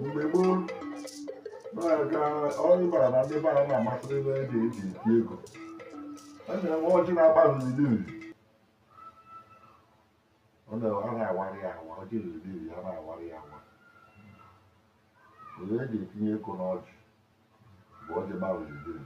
mgbe gboo na-aga ọrụ bara na ndị bara na-amasịrị ebe e ji eji eti ego a na-enwe ọjị na-agba n'ili uli ọ na- a na-awara ya awa ọjị n'ili uli a na-awara ya awa olee eji etinye ego n'ọjị bụ ọjị gbara n'ili uli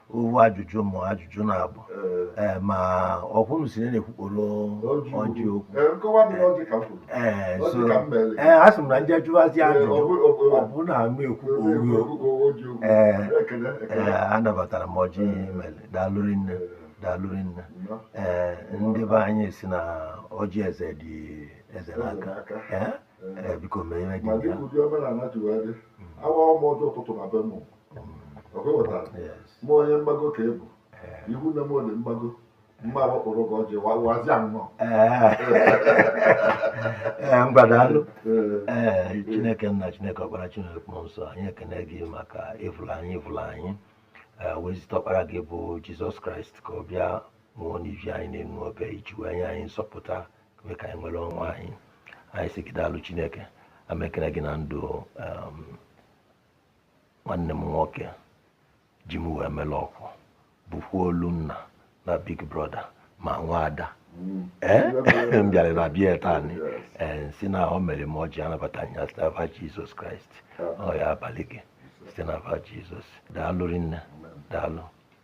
ofu ajụjụ ma ajụjụ na-abụ ee ma ọkwụrụ si na-ekwukporo ọjị okwu ee so ee a sị m na ndị ajụwazi ajụjụ ọ bụ na ama ekwukpo oge ee ee anabatara m ọjị i mere daalụ rinne daalụ rinne ee ndị be anyị si na ọjị eze dị eze n'aka ee biko mee ihe dị ya awago mụ ọjị ụtụtụ na be mụ ma onye mgbago ka ebu ihu na m dị mgbago mma agbakpọrọ gị ọjị wazia nnọọ mgbadalụ ee chineke nna chineke ọkpara chineke mmụọ nsọ anyị ekene gị maka ịfụla anyị ịfụla anyị wee zite ọkpara gị bụ jizọs kraịst ka ọ bịa nwụọ n'ivi anyị n'elu obe iji wee nye anyị nzọpụta mee ka anyị nwere onwe anyị anyị sị gị daalụ chineke ana m ekene gị na ndụ nwanne m nwoke ji m wee mere ọkwụ bụkwa olu nna na big brother ma nwa ada ee eh? m bịara na be ya taa ee eh, si na o mere m ọjị anabata ya site n'afa jizọs kraịst ọ ya-abalị gị site n'afa jizọs daalụ rinne daalụ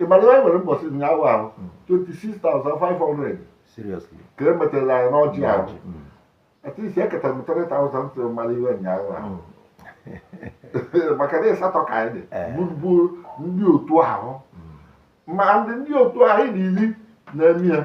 ị mara na anyị nwere mbọsị ụnyaahụ ahụ 26,500 seriously ka e metara anyị n'ọjị ahụ Ọjị, mm. at least eketa m 3,000 tụrụ mara ihe ụnyaahụ ahụ Mm. maka na ịsatọ ka anyị dị Eh. bụ bụ ndị otu ahụ ma ndị ndị otu ahụ anyị dị iri na-eme ya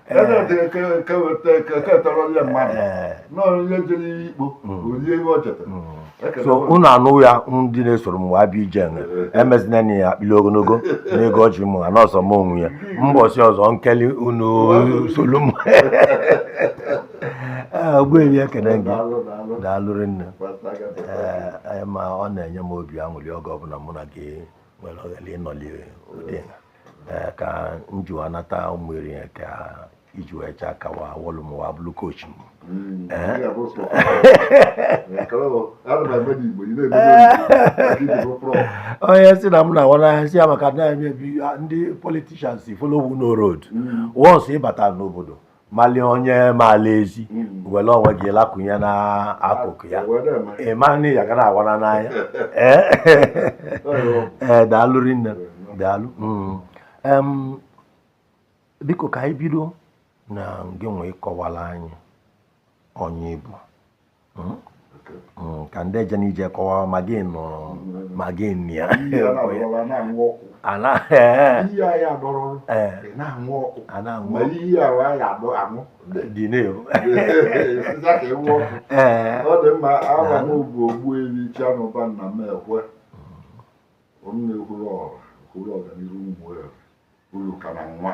so unu anụ ya ndị na-esoro m wee bịa ije emezina enyi ya akpịli ogologo n'ego ọjị m na ọ sọ m nwe ya mbọsị ọzọ m keeli unu solu m ogbuefi ekene gị daalụ rinne ma ọ na-enye m obi aṅụrị oge ọbụla mụ na gị nwere ohere ịnọli ụdị a ee ka m ji wee nata ụmụ eri ya ka iji wee chaa ka wa wọlụ m wa bụrụ kochi m Mm, Eh? ị ga-abụ sọ. Eh, kọrọ m, ana m eme n'Igbo, ị na-eme n'Igbo. Maka i ji bụ prọf. onye si na m na-awa n'ahịa si ya maka na emebi ndị politicians follow who know road Mm. once ị bata n'obodo mali onye maala ezi hmm. were onwe gị lakụnye n'akụkụ ya ị ma na ya ga na-awana n'anya ee eh, daalụ rinne daalụ hmm. biko ka anyị bido na ngị nwa ịkọwara anyị onye ị bụ hmm? Hmm, ka ndị eje n'ije kọwa ma gị nọ ma gị nọ ya dị na-ewu ọ dị mma aha m bụ Ogbuefi Chianụba Nnamekwe m na-ekwuru ọra ekwuru ọganihu ụmụ ụlọ ka na nwa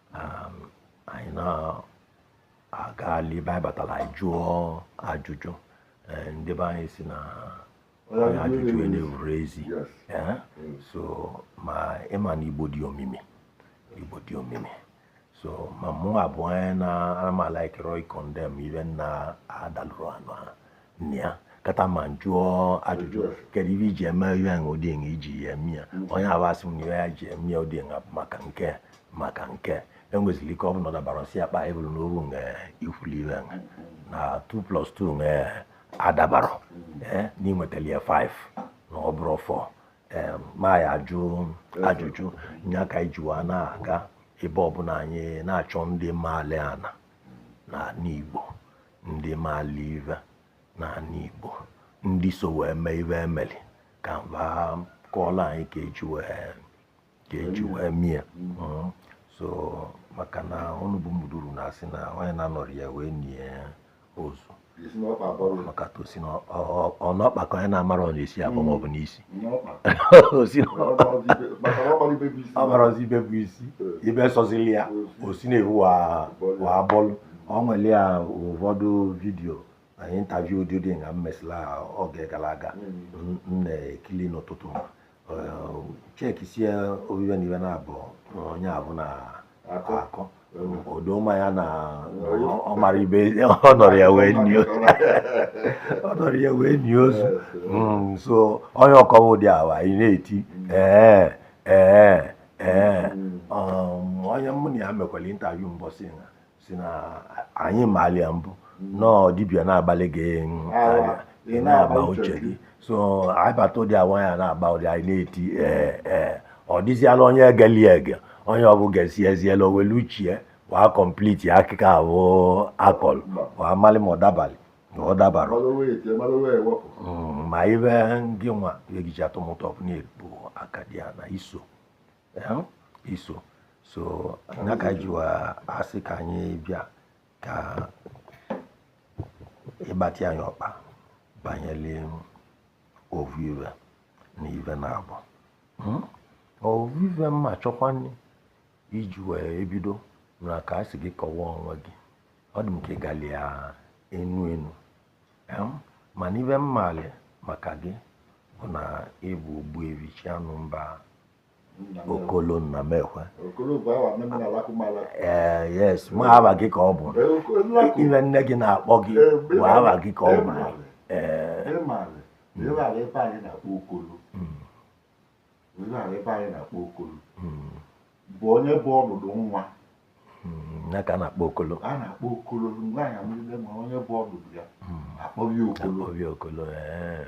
um, anyị na-agali ebe anyị batara anyị jụọ ajụjụ eh, ndị be anyị sị na onye ajụjụ ana-evuro ezi Eh, mm. so ma ị ma na igbo dị omimi igbo dị omimi so ma mụ abụ onye na-ama likerọ ịcondemn ive nna adalụrụ anụ ha nya kpata m ajụọ ajụjụ kedu ive e ji eme ihe ahụ ụdị nga e ji ya eme ya onye avụ asị m na ihe ya ji eme ya ụdị nga maka nke maka nke e nwezili ike ọ bụ na ọ dabara si akpa ebulu na oru nga i kwuli ihe nga na 2 plus 2 nga adabarọ ee na i nwetali ya 5 na ọ bụrọ 4 ee ma ya ajụ ajụjụ nya ka anyị jiwa na-aga ebe ọbụla anyị na-achọ ndị maali ana n'ani Igbo ndị maali ive n'ani Igbo ndị so wee mee ive e meli ka nva kọọla anyị ka e ji wee ka e ji wee mee ya Mm. so maka na unu bụ Ụmụduru na-asị na onye na-anọrọ ya wee nie ozu Esi n'ọkpa abọrọ ụlọ. maka tosi na ọ- ọ- ọ n'ọkpa ka onye na-amarọ na-esi abọ maọbụ n'isi ọ marazi ibe bụ isi ibe sọzili ya o si na-ehu wa bọlụ o nwere ya ụfọdụ vidiyo na intaviu ụdị dị nga m mesịla oge gara aga m na-ekili n'ụtụtụ m check sị ọ bụ ive na ive naabọ onye avụ na akọ o do m anya na ọ mara ibe ọ nọrọ ya wee nie ozu ọ nọrọ ya wee nie ozu Mm, so onye ọkọwa ụdị ahụ anyị na-eti ee ee ee um, onye mụ na ya mekwara intaviu mbọsị a sị na anyị maali ya mbụ na ọ dibịa na-agbalị gị mm, ava, ị ị na-agba na-agba uche uche gị so anyị bata ụdị awa ya na-agba ụdị anyị na-eti ee ee ọ dịziala onye egeli ege onye ahụ gesi eziela o welu uche wa complete akụkọ ahụ akọlụ wa amalị ma ọ dabalị ma ọ dabarọ ma ive gị nwa eji atọ m ụtọ na-ebu aka dị ya na iso iso so nya ka ji wa asị ka anyị bịa ka ịgbatị anyị ọkpa banyere ovu ive na ive naabọ hmm? ovu ive mma chọkwa iji wee ebido na ka a sị gị kọwaa onwe gị ọ dị m ka ị gali ya enu enu hmm? mana ive m malị maka gị bụ na ị bụ Ogbuevi Chianụmba Okolo Nnamekwe ee eh, yes ma aha gị ka ọ bụ ive nne gị na-akpọ gị bụ aha gị ka ọ bụ ee bụ onye bụ ọdụdụ nwa hmm, ya ka a na-akpọ Okolo a na-akpọ Okolo nwaanyị amụlile ma onye bụ ọdụdụ ya hmm. akpọghị Okolo eh.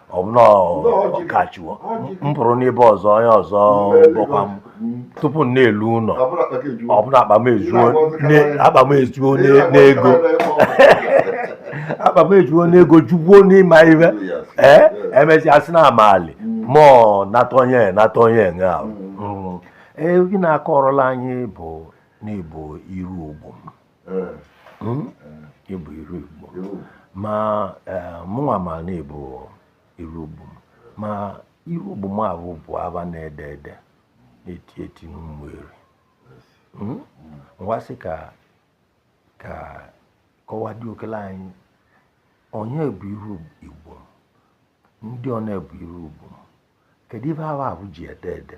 ọbụna ọkachiwo m pụrụ n'ebe ọzọ onye ọzọ bụkwa m tupu m na-elu ụnọ ọbụna akpa m ejuo ne- akpa m ejuo ne- n'ego akpa m ejuo n'ego jukwuo n'ịma ihe ee emesịa sị na amali mụọ nata onye nata onye nga ahụ. Mm. ee gị na-akọrọla anyị bụ na ị bụ iru ugbo m hmm? ị bụ iru igbo ma eh, mụnwa ma na ị bụ iru ugbo m ma iru ugbo m ahụ bụ ava na-ede ede na-eti eti n'Ụmụeri hmm? ngwa sị ka ka kọwa dị okele anyị onye bụ iru igbo ndị one bụ iru ugbo kedu ive aha ahụ ji ede ede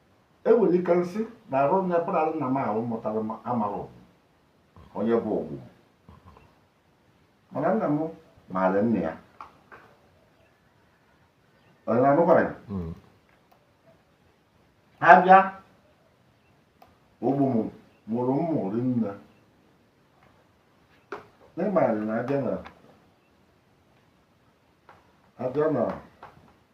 e nwere ike m sị na arụ nne pụnara nna m ahụ mụtara m amara Ogbu onye bụ Ogbu mana nna m maara nne ya onye na-anụkwara ya Mm. ha bịa Ogbu m mụrụ m mụrụ nne n'ịmara na Adiana Adiana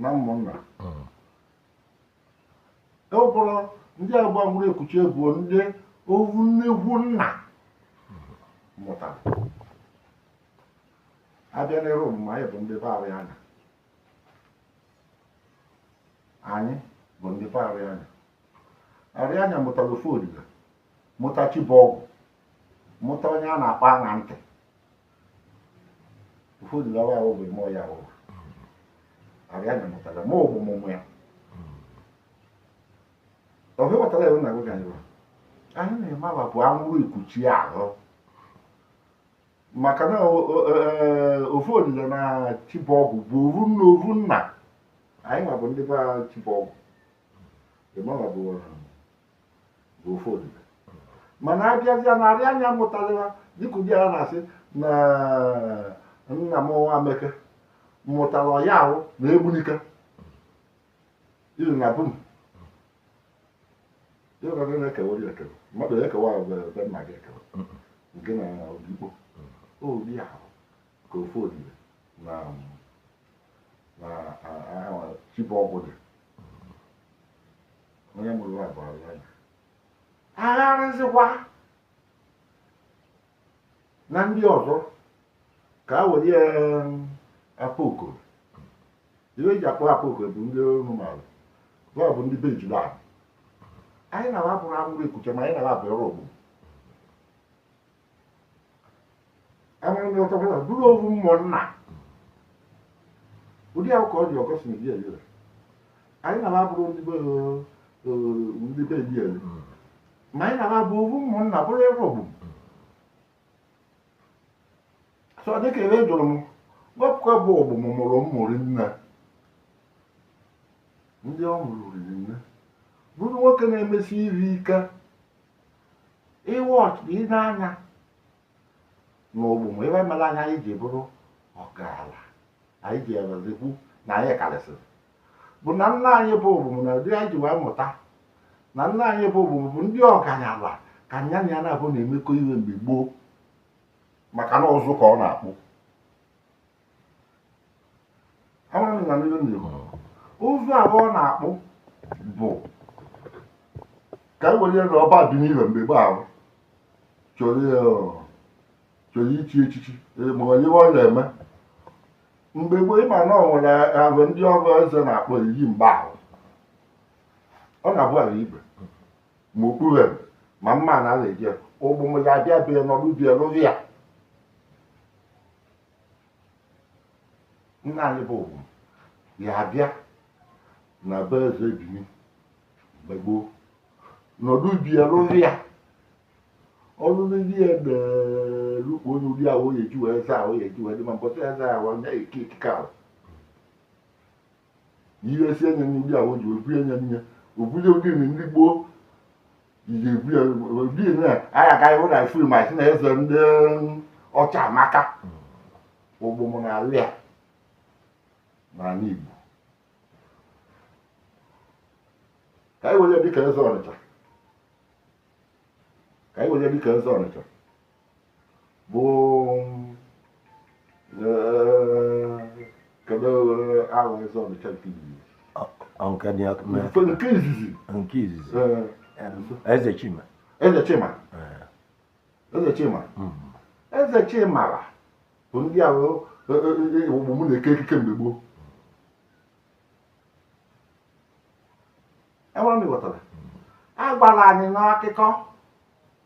na ụmụnna mm. e bụrụ ndị agba mgbụrụ ekuchie bụ ndị ovu nne ovu nna mụtara abịa n'ere omume anyị bụ ndị be Arịanya anyị bụ ndị be Arịanya Arịanya mụtara ofe odiga mụta Chibọgwụ mụta onye a na-akpọ aṅa ntị ofodile wa ahụ bụ ime ọya ahụ arịanya mụtara ma ọgbụ mụmụ ya ọbụ ịghọtara ya na gụga iwe anyị na-eme aba bụ anwụrụ ikuchi ahụ maka na o- o- e- ofodile na chibọgwụ bụ ovu nna ovu nna anyị ma bụ ndị be chibọgwụ ịmara bụ bụ ofodile mana abịazịa na arịanya mụtara dịka ụdị a na-asị na nna m nwa meke mụtara ọya ahụ na egbunike iri na bum ịghọrọ na-ekewa ya ekewa mmadụ ekewa ebe nna gị ekewa nke na odigbo ụdị ahụ ka ofodile na chibọgwụ dị onye mụrụ nwa bụ arịanya agharịzikwa na ndị ọzọ ka a were ya akpa okoro ihe eji akpọ akpa okoro bụ ndị ọrụ maara ọ bụ ndị be ejula anyị na ha bụrụ anwụrụ ekuchi ma anyị na ha bụ ọrụ ogbugbo enwere ndị ọtọ kwụrụ bụrụ ovu ụmụnna ụdị ahụ ka ọ dị ọgọst na biel ire anyị na ha bụrụ ndị be ndị be biel ma anyị na ha bụ ovu ụmụnna bụrụ ebe ogbom so dịka ebe jụrụ m wepụkwa bụ ogbom mụrụ m mụrụ nne ndị ọ mụrụ riri nne bụrụ nwoke na-emesi iri ike ịwa ọchụ ị na-anya n'ogbom ihe mere anya anyị ji bụrụ ọgaranya anyị ji ewerezikwu na anyị karịsịrị bụ na nna anyị bụ ogbom na ụdị anyị ji wee mụta na nna anyị bụ ogbom bụ ndị ọgaranya ka nya na ya na-abụ na-emekọ ihe mgbe gboo maka na ụzụ ka ọ na-akpụ ụzụ ahụ ọ na-akpụ bụ ka e were na ọba bini mgbe gboo ahụ chọrọ ichi echichi e, ma onye ọ na-eme mgbe gboo ịma na ọ nwere ahụ ndị ọbụ eze na-akpụ eyi mgbe ahụ ọ na-abụ ala igwe ma okpu ma mma na ala eje ogbom ya bịa bịa nọdụ bịa lụrụ ya nna anyị bụ ogbom ya abịa na be eze bini mgbe gboo nọdụ bịa rụrụ ya ọlụlụ ndị ya na-elukpu onye ụdị ahụ oye ji wee eze ahụ oye ji wee dị mma mbọsị eze ahụ ya-eke ekike ahụ ihe si enye nye ndị a oji obu enye nye obuzi ụdị nri ndị gboo iji ebu ya ụdị nri a anyị agaghị hụ na fim a sị na eze ndị ọcha amaka Ogbomu na alị a n'ala Igbo ka anyị were ya dịka eze Ọnịcha ka anyị were ya dịka eze Ọnịcha bụ kedu aha eze Ọnịcha nke izizi Eze Chima Eze Chima bụ ndị ahụ Ogbomu na-eke ekike mgbe gboo enwere m ịghọtara a gwara anyị n'akụkọ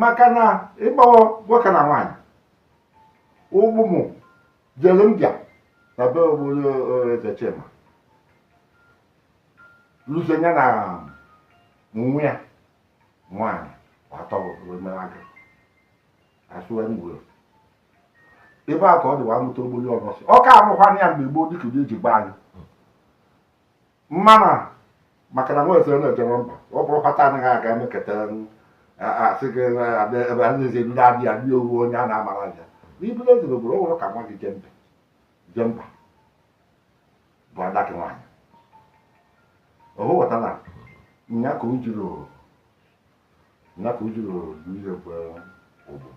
maka na ịgbawa nwoke na nwaanyị Ogbomu jere mbịa na be obodo Eze Chima lụzie ya na nwa ya nwaanyị atọrọmeraga asụwa ngwere ebe a ka ọ dịwa amụta Ogboli Olosi ọ ka amụkwana ya mgbe gboo dịka ụdị eji gba anyị mana maka na nwa eze na-ejere mba ọ bụrụ kpata anaghị aga emeketa asị gị ebe a na-ezi ndị abịa ndị owu onye a na-amara ya n'ibule ezi n'obodo o nwere ka nwa gị jee mba jee mba bụ ada gị nwaanyị o ghọta na nya ka o jiri ihe bụ Ogbom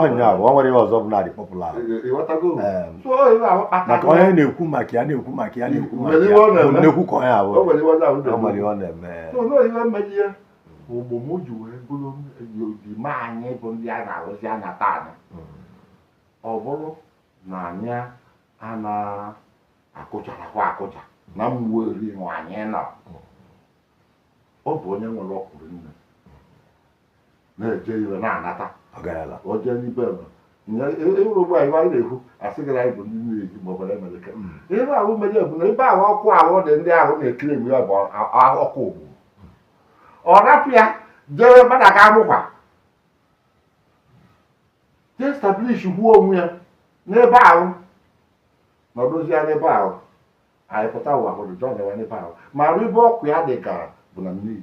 ọnya bụ ọ nwere ihe ọzọ bụ na-adị popular maka onye na-ekwu maka ya na-ekwu ka onye ahụ nwere ihe ọ na-eme Ogbomu ji wee bụrụ ọdịmma anyị bụ ndị a na-arụzi anya taa ọ bụrụ na anyị a na-akụcharakwa akụcha na mgbe eri anyị nọ ọ bụ onye nwere ọkụrụ nne na-eje ire na-anata ọ gara ala o jee n'ibe m ịhụrụ ụgbọ anyị anyị na-ekwu asị gị na anyị bụ ndị na-eji ma ọ bụla emeleke ihe ahụ mere bụ na ebe ahụ ọkụ ahụ dị ndị ahụ na-ekiri egwu ya bụ a- a- ọkụ ogbu ọ rapụ ya jee mmadụ aga amụkwa jee establish onwe ya n'ebe ahụ nọdụzi ya n'ebe ahụ anyị pụta ụwa hụrụ onwe anyị n'ebe ahụ ma arụ ebe ọkụ ya dị gara bụ na mmiri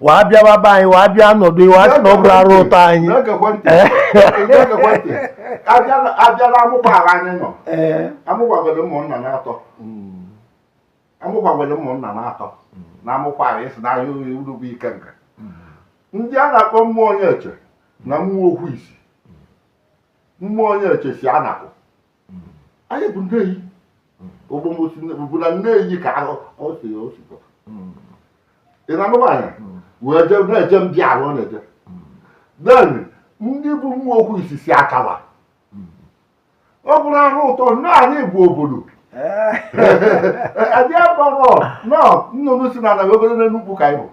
waa bịawa be anyị waa bịa nọdụ waa sị na ọ bụrụ arụ ụtọ anyị Na-egekwa ntị. Na-egekwa ntị. Abịala- abịala amụgbaghara anyị nọ ee amụgbagwere ụmụnna na-atọ amụgbagwere ụmụnna na-atọ na amụkwara esi na ahịa uri uru bụ ike nke ndị a na-akpọ mmụọ onye eche na mmụọ okwu isi mmụọ onye eche si Anakụ anyị bụ Nneyi ogbomosi bụ na Nneyi ka ahụ ọ si ya osi pụta ị na-anụ nwaanyị wee je na-eje ndị ahụ ọ na-eje then ndị bụ mmụọ okwu isi si akawa ọ bụrụ arụ ụtọ na anyị bụ obodo adị akpọrọ nọ nnụnụ si na anaghị ogologo n'Enugwu ka anyị bụ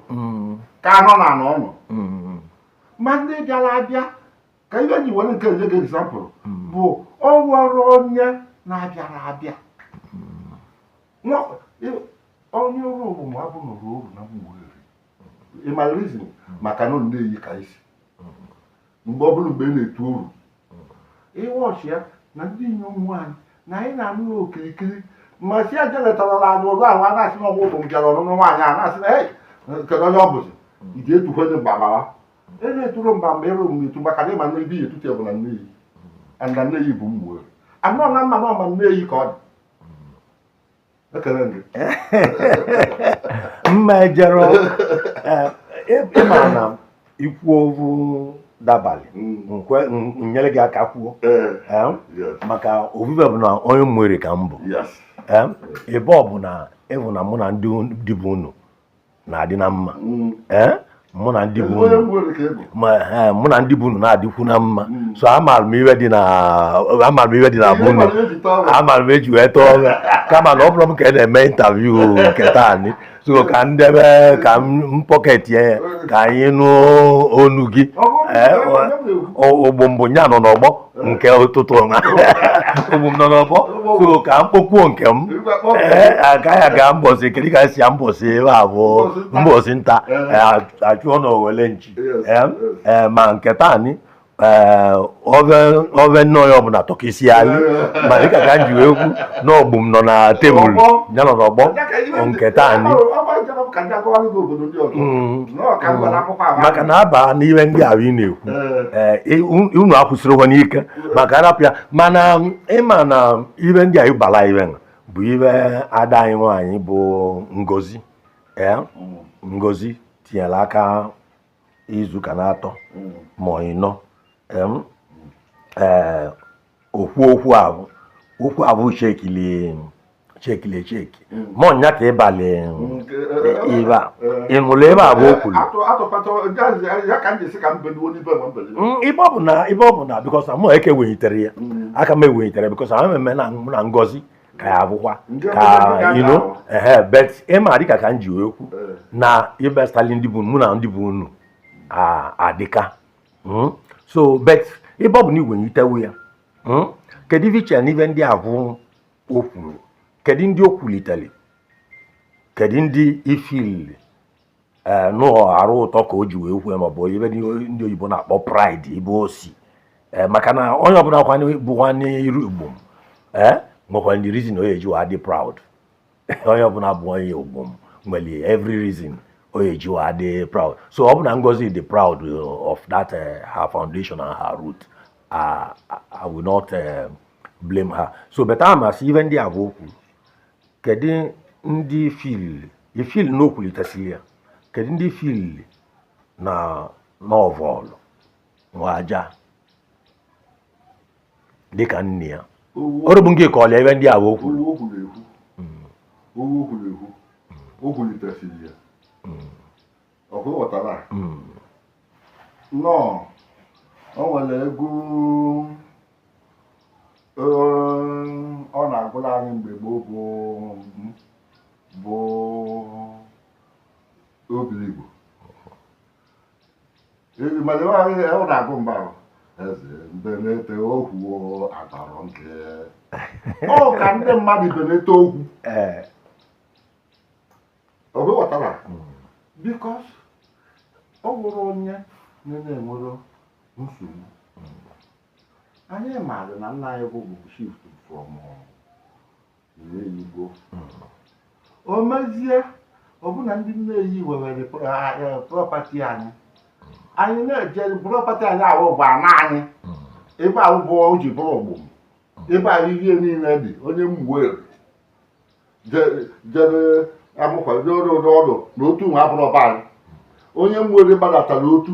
ka anọ na anọ ọnụ ma ndị bịara abịa ka ibe ji were nke nje example bụ ọ nwere onye na-abịara abịa onye ọrụ ọmụmụ abụ nọrọ oru na Ụmụeri ị ma reason maka na Nneyi ka isi mgbe ọ bụla mgbe ị na-etu oru ịwọchi ya na ndị inyom nwaanyị na anyị na-anụ ya okirikiri ma si aja letarala anyị ụzọ ahụ a na-asị na ọgwụ ụmụ m bịara ọnụnụ nwaanyị a na-asị na kedu onye ọ bụzi ị ga-etukwenye mgbagbawa ebe eturo mba mgbe ịrụ m etu maka na ịma na ebe ive etutu bụ na Nneyi na Nneyi bụ mmụọ anọ na mma na ọma Nneyi ka ọ dị ekele gị mma ejere ịma eh, na ikwu ovu dabalị mm. nyere gị aka kwuo eh. Eh, maka ovu ive bụ na onye Ụmụeri ka m bụ ebe ọ bụ na ị vụ na mụ na ndị be unu na-adị na mma mm. eh? mụ na ndị bụ eh, mụ na ndị be unu na-adịkwu na mma mm. so amaara m ive dị na amaara m ive dị na be unu amaara m eji wee tọọ ọrụ kama na ọ bụrụ m ka a na-eme interview nke taa ni so ka m debe ka m pocket ya ka anyị nụ ọnụ gị eh, ụgbụ mbụ ya nọ n'ọgbọ nke ụtụtụ ọgbụ m nọ n'ọgbọ so ka m kpokwuo nke m ee agaghị aga mbọsị kedu ka e si ya mbọsị ebe a bụ mbọsị nta a chụọ na owele nchi ee ma nke taa ni ove nnọọ ya ọbụla tọkisi ali ma dịka ka m ji wee kwu n'ọgbụ m nọ na table ya nọ n'ọgbọ nke taa ni maka na aba n'ihe ndị ahụ ị na-ekwu eh. Eh, unu akwụsịrịkwa n'ike maka arapụ ya mana um, ịma na um, ihe ndị anyị bala ihe a bụ ihe ada anyị nwaanyị bụ Ngozi eh, Ngozi tinyere aka izu ụka na-atọ mm. ma ịnọ okwu okwu ahụ okwu ahụ chekili chekili cheki hmm. mọ nya ka ịbalị ibe a ị nụlụ ive avụ o kwuru ibe ọ bụ na ibe ọ bụ na because mụ eke wenyitere ya hmm. aka m ewenyitere because ahụ mmemme na mụ na Ngozi ka ya abụkwa ka ino ehe but ị ma dịka ka m ji wee kwu eh. na ịbịa stali ndị be mụ na ndị be unu adịka hmm? so but ebe ọ bụ na i wenyitewu ya hmm? kedu ife i che na ive ndị avụ o kwuru kedu ndị o kwulitere kedu ndị i feel eh, n'ọọ arụ ụtọ ka o ji wee kwue maọbụ ive ndị oyibo na-akpọ pride ebe o si eh, maka na onye ọbụla bụ nwanne iru Igbo eh, nwekwa ndị reason o eji wa dị proud onye ọbụla bụ onye Ogbu nwere every reason ọ ya-eji wa dị proud so ọ bụ na Ngozi dị proud uh, of that uh, her foundation and her root I, I will not uh, blame her so but amasị ive ndị avụ o kwu kedu ndị i feel i feel na o kwulitesiri ya kedu ndị i feel na ọ vọlụ nwa aja dịka nne ya ọrụ bụ nke ka ọlịa ive ndị avụ o kwu o kwulitesiri ya o kwuwatara nnọọ o nwere egwu ọ na-agụlụ anyị mgbe gboo bụ bụ Obiligbo mana ịwaghị ya ọ na-agụ mgbe ahụ eze mbenete okwu atọrọ nke ọ ka ndị mmadụ benete okwu ee ọ bụ ghọtara because ọ nwere onye na-enwere nsogbu anyị maara na nna anyị bụ bụ shift from n'Enugwu o mezie ọbụna ndị Nneyi wewere property anyị anyị na-eje property anyị ahụ bụ ana anyị ebe ahụ bụ o ji bụrụ Ogbu ebe ahụ ihe niile dị onye Ụmụeri jere Amụkwa jere ụdọ ọdụ na otu nwa abụrụ ọba anyị onye Ụmụeri gbadatara Otu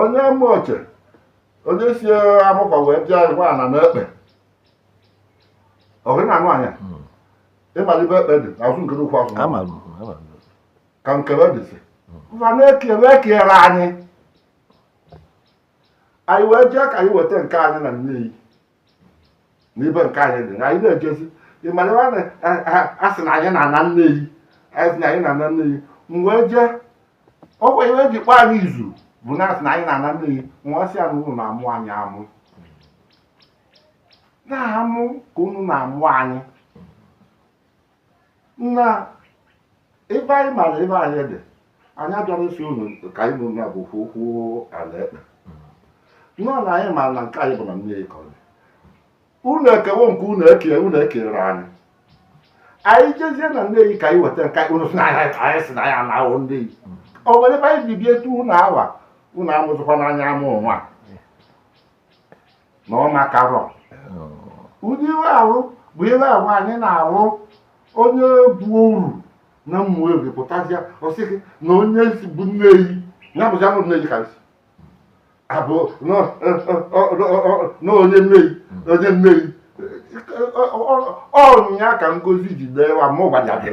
onye Ụmụoche onye si Amụkwa wee bịa gwa ana na ekpe ọgụ na anụ anya hmm. ị malị ibe ekpe dị azụ nke n'ukwu azụ ka nkebe dịzi mfa hmm. na-ekere ekere anyị anyị wee jee ka anyị weta nke anyị na Nneyi n'ibe nke anyị dị anyị na-ejezi ịmara ebe a na- a- a- a sị na anyị na-ana nneyi anyị sị na anyị na-ana nneyi wee jee ọkwa ihe eji kpọọ anyị izu bụ na asị na anyị na-ana nneyi nwa asị anyị unu na-amụ anyị amụ na-amụ ka unu na-amụ anyị na ebe anyị mara ebe anyị dị anyị abịara isi unu ka anyị nụ na ọ bụ okwu okwu ala ekpe nọ na anyị ma na nke anyị bụ na nneyi ka ọ dị unu ekewo nke unu eke unu ekere anyị anyị jezie na nneyi ka anyị weta nke unu si na anyị anyị si na anyị anaghọ nneyi o nwere ebe anyị ji bie etu unu awa unu amụzịkwana anyị amụ nwa na ọ makarọ ụdị ihe ahụ bụ ihe ahụ anyị na-arụ onye bụ uru na ụmụeri pụtazịa ọsị gị na onye si bụ nneyi ya bụzi abụ nneyi ka nsi abụ na onye nneyi onye nneyi ọ nya ka ngozi ji dee wa ma ụgbaja gị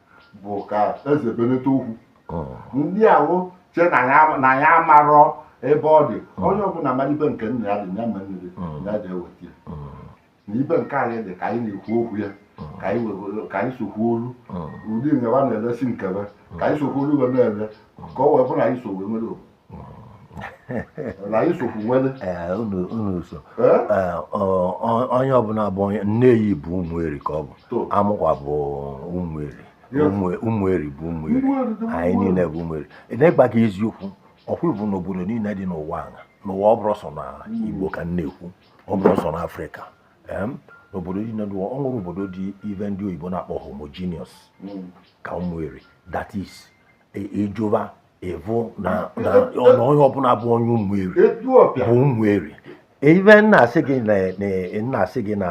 bụ ka eze beneta okwu ndị ahụ che na ya- na ya amarọ ebe ọ dị onye ọbụla mara ibe nke nna ya dị ya ma nne dị ya ji eweta ya na ibe nke anyị dị ka anyị na-ekwu okwu ya ka anyị wego- ka anyị sokwu olu ụdị nyewa na-elesi nkebe ka anyị sokwu olu wee na-ele ka ọ wee bụrụ na anyị so wee nwere obodo na anyị sokwu nwere Ee, unu unu so Eh? Ee, ọ- ọ- onye ọbụla bụ onye nneyi bụ ụmụeri ka ọ bụ To. amụkwa bụ ụmụeri Yes. Ụmụ- ụmụeri bụ ụmụeri Ụmụeri dị mma. anyị niile bụ ụmụeri n'ịgba gị eziokwu ọkwa ịvụ n'obodo niile dị n'ụwa a n'ụwa ọ bụrọ sọ na igbo ka m na-ekwu ọ bụrọ sọ na afrịka Em, n'obodo niile dị ụwa ọ nwerọ obodo dị ive ndị oyibo na-akpọ homogeneous ka ụmụeri that is ịjụba e, ịvụ na onye ọbụla bụ onye ụmụeri bụ ụmụeri even na asị gị na asị gị na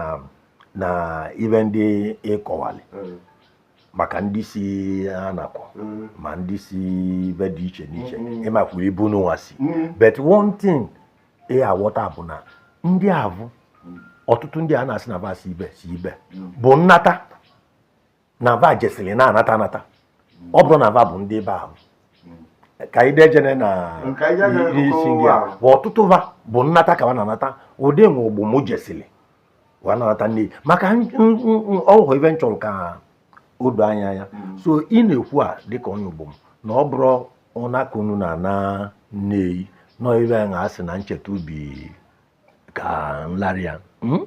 na even ndị ịkọwali hmm. maka ndị si anaku hmm. ma ndị si ibe dị iche n'iche hmm. ịmakwuru ibe unu nwa si but one thing ị aghọta bụ na ndị avụ ọtụtụ ndị a na-asị na va si ibe si ibe bụ nnata na va jesiri na-anata anata ọ bụrụ na va bụ ndị ebe ahụ ka anyị dejene na Nke anyị agaghị ihe isi akụkọ ndị ụwa a ahụ. bụ ọtụtụ va bụ nnata ka va na-anata ụdị nwe ugume jesiri wee na-anata nne maka n- n- n- ọhụ ive m chọrọ ka o doo anya anya so ị na-ekwu a dịka onye ugume na ọ bụrụ ụnaka unu na ana nneyi nọ ibe a na-asị na ncheta ubi ka nlarị ya Mm?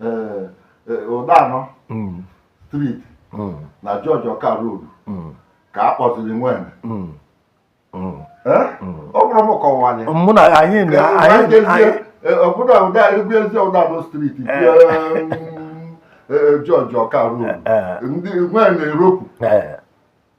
eh, eh, ụdanọ mm. street mm. na George Ọka road mm. ka a kpọziri nwene ọ bụrụ m kọwanye mụ na anyị obodo ụda egwu ezi ụdanọ street George Ọka road ndị nwene eropu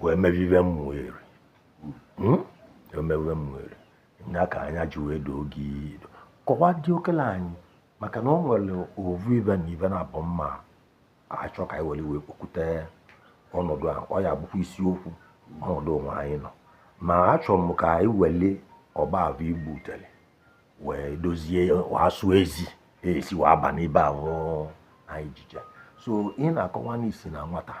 wee meve ive ụmụeri hmm? emewe ụmụeri ya ka anya ji wee doo gị kọwa dị okele anyị maka na ọ nwere ovu ive na ive na-abụ ma achọ ka anyị were wee kpọkute ọnọdụ a ọ ya bụkwa isiokwu ọnọdụ onwe anyị nọ ma achọrọ m ka anyị wele ọkpa avụ igbu utele wee dozie asụ ezi esi wee aba n'ebe ahụ anyị jije so ị na-akọwa na i si na nwata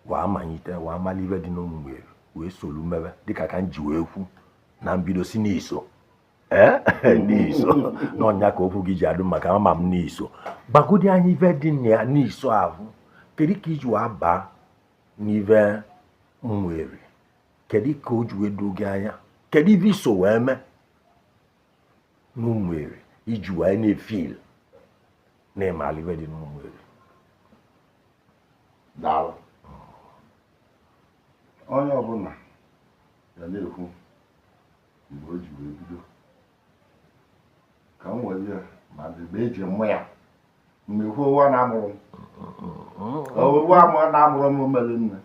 wee manyite wee mali ive dị n'ụmụeri wee solu mebe dịka ka m ji wee kwu na mbido si n'iso ee eh? n'iso n'ọnya ka okwu gị ji adụ maka ama m na i so gbagodi anyị ive dị na ya n'iso ahụ kedu ka i ji wee baa n'ive ụmụeri kedu ka o ji wee doo gị anya kedu ive i so wee mee n'ụmụeri i ji wee na-efil na-emali ive dị n'ụmụeri daalụ onye ọbụla ya na-ekwu mgbe o ji wee bido ka m were ya ma mgbe eji mụ ya mgbe ekwu owu a na-amụrụ m owu a mụ- na-amụrụ m mere nne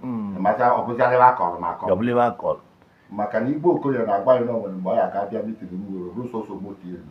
maka ọbụzarịba akọrọ m akọrọ ọbụlebe akọrọ maka na igbo okoye na-agwa ya na o nwere mgbe ọ ya ga-abịa meeting m were bụrụ sọsọ moto elu